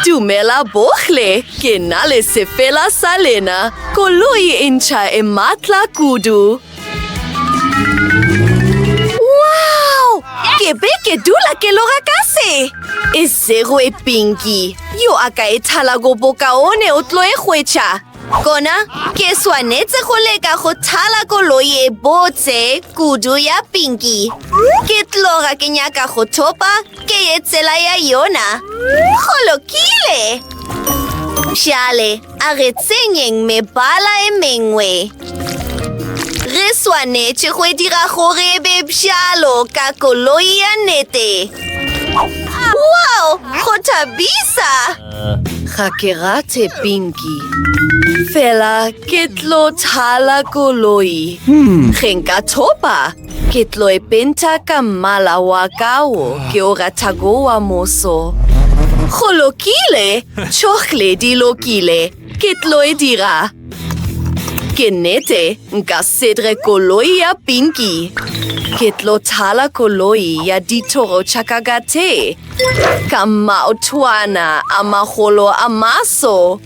Dumela bohle, ke na le sefela sa lena, koloi e ntšha e matla kudu. Wow! Ke be ke dula ke loga ka se. E sego e Pinky, yo a ka e thalago bokaone o tlo e hwetša. Gona ke swanetše go leka go thala koloi e botse kudu ya Pinky. Ke tloga ke nyaka go thopa ke ye tsela ya yona. Go lokile! Bjale a re tsenyeng mebala e mengwe. Re swanetše go dira gore e be bjalo ka koloi ya nete. Wow! Go thabisa! Ga ke rate Pinky. Fela ke tlo thala koloi. Ge nka thopa, ke tlo e penta ka mmala wa ka wo ke o ratago wa moso. Go lokile, tšhohle di lokile. Ke tlo e dira. Ke nnete, nka sedre koloi ya Pinky. Ke tlo thala koloi ya dithoro tša ka ka tee ka maotwana a magolo a maso.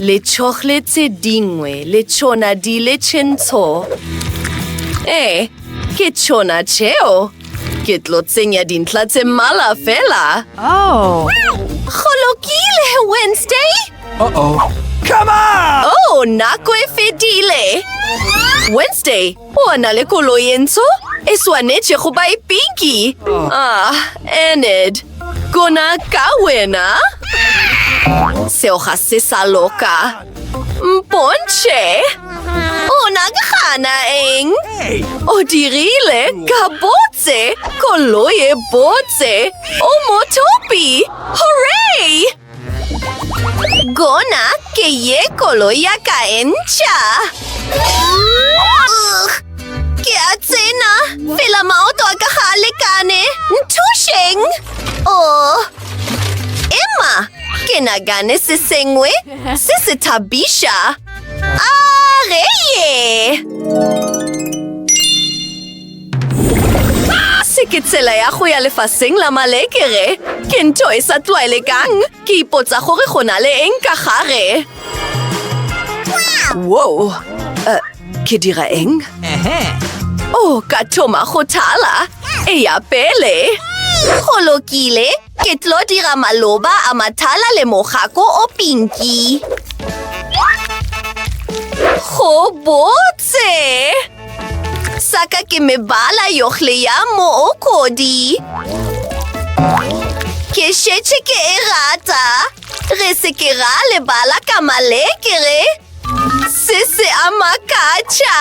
Letšhohle tše dingwe le tšona di le tšentsho. Ee, ke tšona tšeo. Ke tlo tsenya dintlha tse mmala fela. Oh. Go lokile, Wednesday. Uh-oh. Come on! Oh, nako e fedile. Wednesday, o a na le koloi e ntsho? E swanetše go ba e pinki. Oh. Ah, Enid, gona ka wena. Seo ga se sa loka. Mpontšhe! O nagana eng? O dirile ka botse koloi e botse o motopi! Hooray! Gona ke ye koloi ya ka e ntšha! Ke a tsena pela maoto a ka ga a lekane! Nthušeng! Oh! Emma, ke nagane se sengwe Se se thabiša! A re ye! Se ke tsela ya go ya lefaseng la malekere. Ke ntho e sa tlwaelekang. Ke ipotsa gore go na le eng ka gare. Woo! Uh, ke dira eng? Oh, ka thoma go thala. Eya pele. Go lokile. Ke tlo dira maloba a mathala le mogako o pinki. Go botse! Saka ke mebala yohle ya mookodi. Ke šetše ke e rata. Re se ke ra lebala ka malekere. Se se a makatša.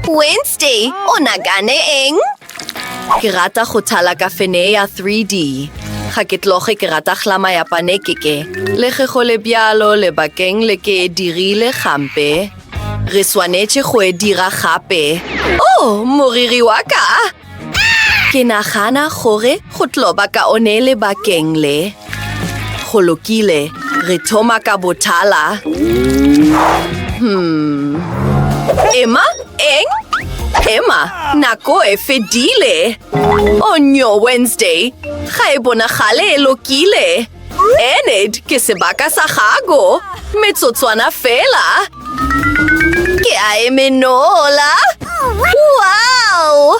Wednesday, o nagane eng? Ke rata go thala kafenee ya 3D. Ga ke tloge ke rata hlama ya panekeke, le ge go le bjalo lebakeng le ke e dirile gampe. Re swanetše go e dira gape. Oh, moriri wa ka! Ke nagana gore go tlo ba kaone lebakeng le. Go lokile, re thoma ka botala. Hmm. Emma, eng? Emma, nako e fedile. O nyo, Wednesday, ga e bonagale e lokile. Enid, ke sebaka sa gago. Metsotswana fela. Ke a e menola. Wow!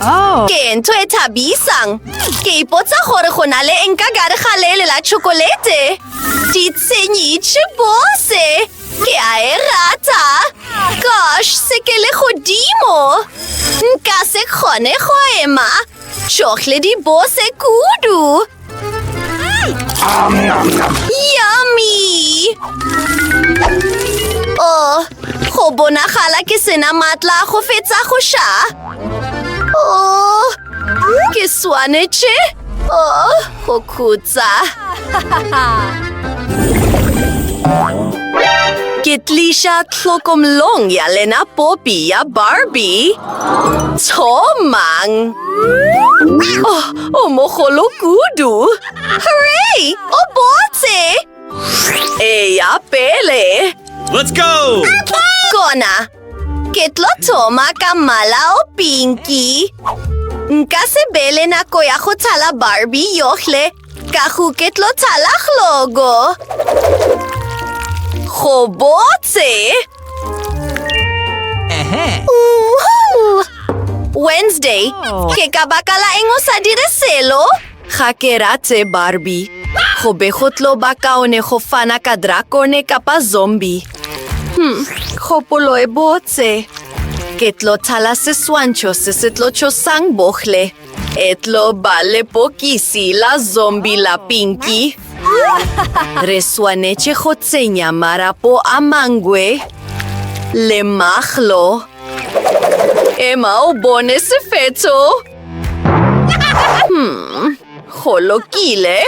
Oh. Ke ntho e thabisang. Ke ipotsa gore go na le eng ka gare ga lele la chokolete. Ditshenyi tšhibose. Ke a e rata. Gosh, se ke le godimo. Nka se kgone go ema. Chocolate di bose kudu. Yummy! Oh, go bonagala ke sena matla go fetsa go ša. Oh, ke swanetše. Oh, go khutsa. Ke tliša tlhokomlong ya lena popi ya Barbie. Thomang! Oh, O mogolo kudu! Hooray! O botse! Eya pele! Let's go! Kona! Ke tlo thoma ka mmala o pinki. Nka se bele nako ya go thala Barbie yohle ka go ke tlo thala glogo. Go botse! Wednesday, oh. ke ka baka la eng o sa dire selo? Ga ke ratse Barbie. Go be go tlo ba kaone go fana ka drakone kapa zombie. Hmm, kgopolo e botse. Ke tlo thala seswantšho se se tlo tšhosang bohle. E tlo ba lepokisi la zombi la Pinky. Re swanetše go tsenya marapo a mangwe le maglo. Ema o bone sefetso. Hmm, go lokile.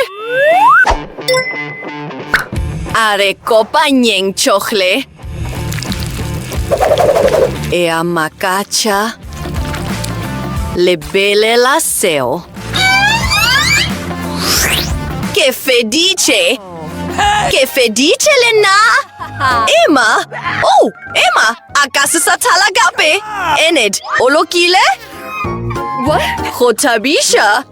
A re kopanyeng tšohle. Ea makatša. Lebelela seo. Ke feditše. Ke feditše le nna. Emma? Oh, Emma, a ka se sa thala gape. Enid, o lokile? What? Go thabiša.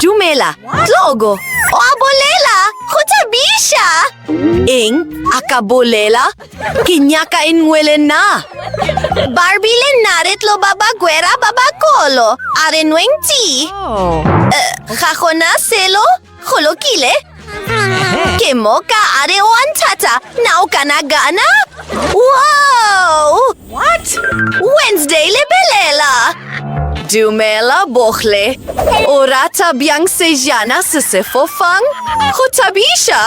Dumela, Tlogo. O a bolela, go thabiša. Eng, a ka bolela? Ke nyaka e nngwe le nna. Barbie le nna re tlo ba bagwera ba bakolo, a re nweng tea. Oh. Eh, ga gona selo, go lokile, Ke moka a re wa nthata na o kana gana wow what wednesday lebelela dumela bohle o rata bjang sejana se se fofang go thabiša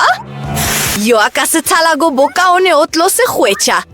yo a ka se thalago bokaone o tlo se hwetša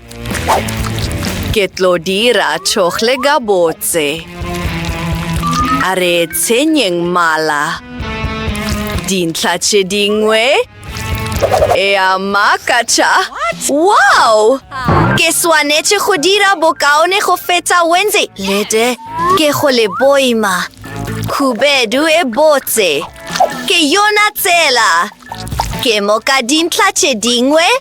Ke tlo dira tšhohle gabotse. A re tshenyeng mala. Dintlha tše dingwe? Ea makatša! Wow! Ke swanetše go dira bokaone go feta Wendy. Lete, ke go le boima. Khubedu e botse. Ke yona tsela! Ke moka dintlha tše dingwe?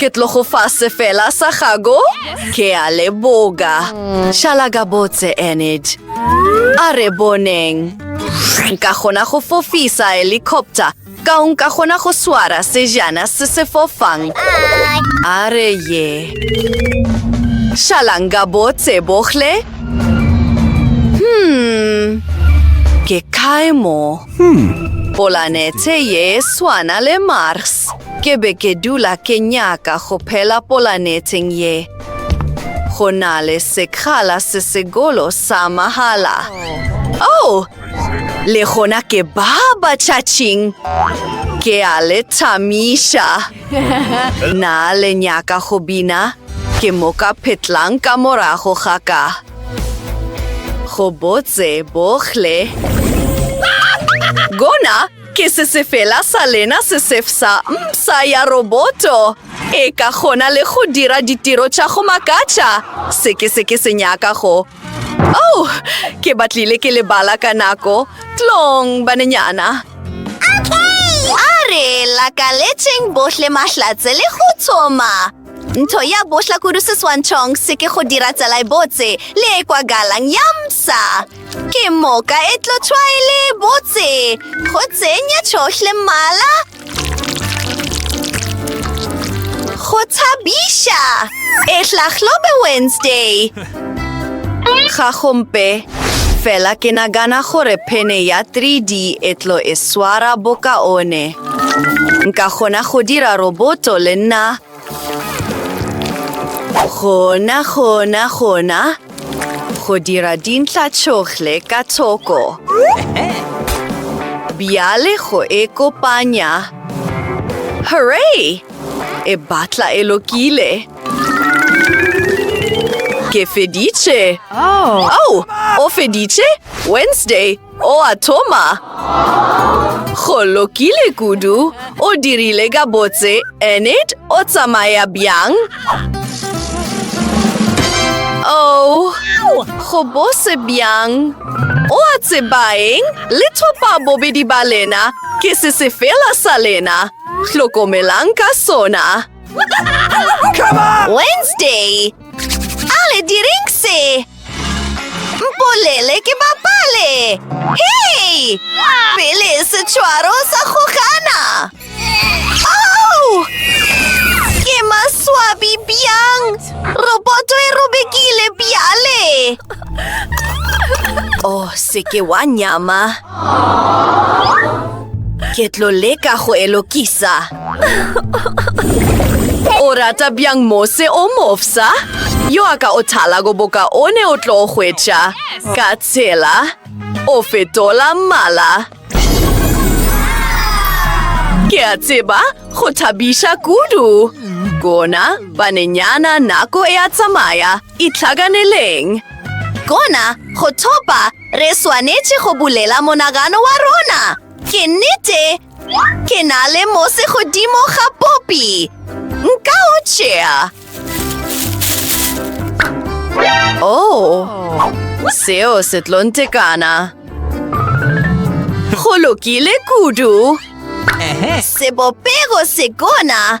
Ke tlogo fa sefela sa gago? Ke a leboga. Šala ka botse, Enid. A re boneng. Nka kgona go fofisa helicopter. Ka o nka kgona go swara sejana se se fofang. A re ye. Šalang ka botse, bohle. Hmm. Ke kae mo? Hmm. Polanete ye swana le Mars. Ke be ke dula ke nyaka go phela polaneteng ye go na le sekgala se segolo sa mahala. Oh! Le gona ke ba batšhatšing! Ke a le thamiša! Na le nyaka go bina? Ke mo ka phetlang ka morago ga ka. Go botse bohle. Gona Ke se sefela sa lena se sefsa msa ya roboto e ka kgona le go dira ditiro tša go makatša se ke se ke se nyaka go. Oh, ke batlile ke lebala ka nako. Tlong, banenyana. A re lakaletšeng bohle mahlatse le go tsoma. Ntho ya bohla kudu seswantšhong se ke go dira tsela e botse le e kwagalang ya msa. Ke moka e tlo tšhwaele botse go tsenya tšhohle mmala go thabiša e hlahlobe Wednesday ga gompe fela ke nagana gore phene ya 3D e tlo e swara bokaone nka kgona go dira roboto le nna Gona, gona, gona, go dira dintla tšohle ka thoko. Bjale go e kopanya. Hooray! E batla e lokile. Ke feditše. Oh, o feditše? Wednesday, O a thoma. Go lokile kudu, o dirile ka botse, Enid, o tsamaya bjang? Oh, go bose bjang. O a tsebaeng, le thopa bobedi ba lena, ke se se fela sa lena. Hlokomelang ka sona. Wednesday, a le direng se? Mpolele ke bapale! Hei! Pele setšwaro sa go gana! Au! Ke maswabi bjang! Roboto e robekile bjale! O oh, se ke wa nyama! Ke tlo leka go elokisa. o rata bjang mose o mofsa yo a ka o thala go boka o ne o tlo hwetša ka tshela o fetola mmala ke a tseba go thabiša kudu kona banenyana nako e a tsamaya itlhakaneleng kona go thopa re swanetše go bulela monagano wa rona ke nnete Ke na le mose godimo ga popi. Nka o tšea. Oh, seo se tlo ntekana. Go lokile kudu. Sebopego se gona.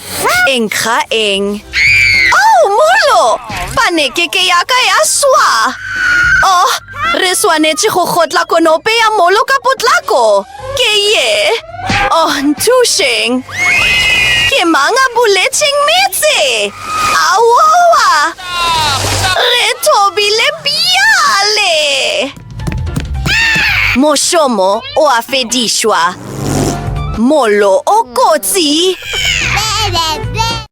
Eng ga eng? Oh, molo! Panekeke ya ka ya swa! Oh, re swanetše go kgotla konope ya molo ka potlako! Ke ye! Oh, nthušeng! Ke mang a buletšeng metse? Aowa! Re thobile bjale! Mošomo o a fedišwa. Mollo o kotsi.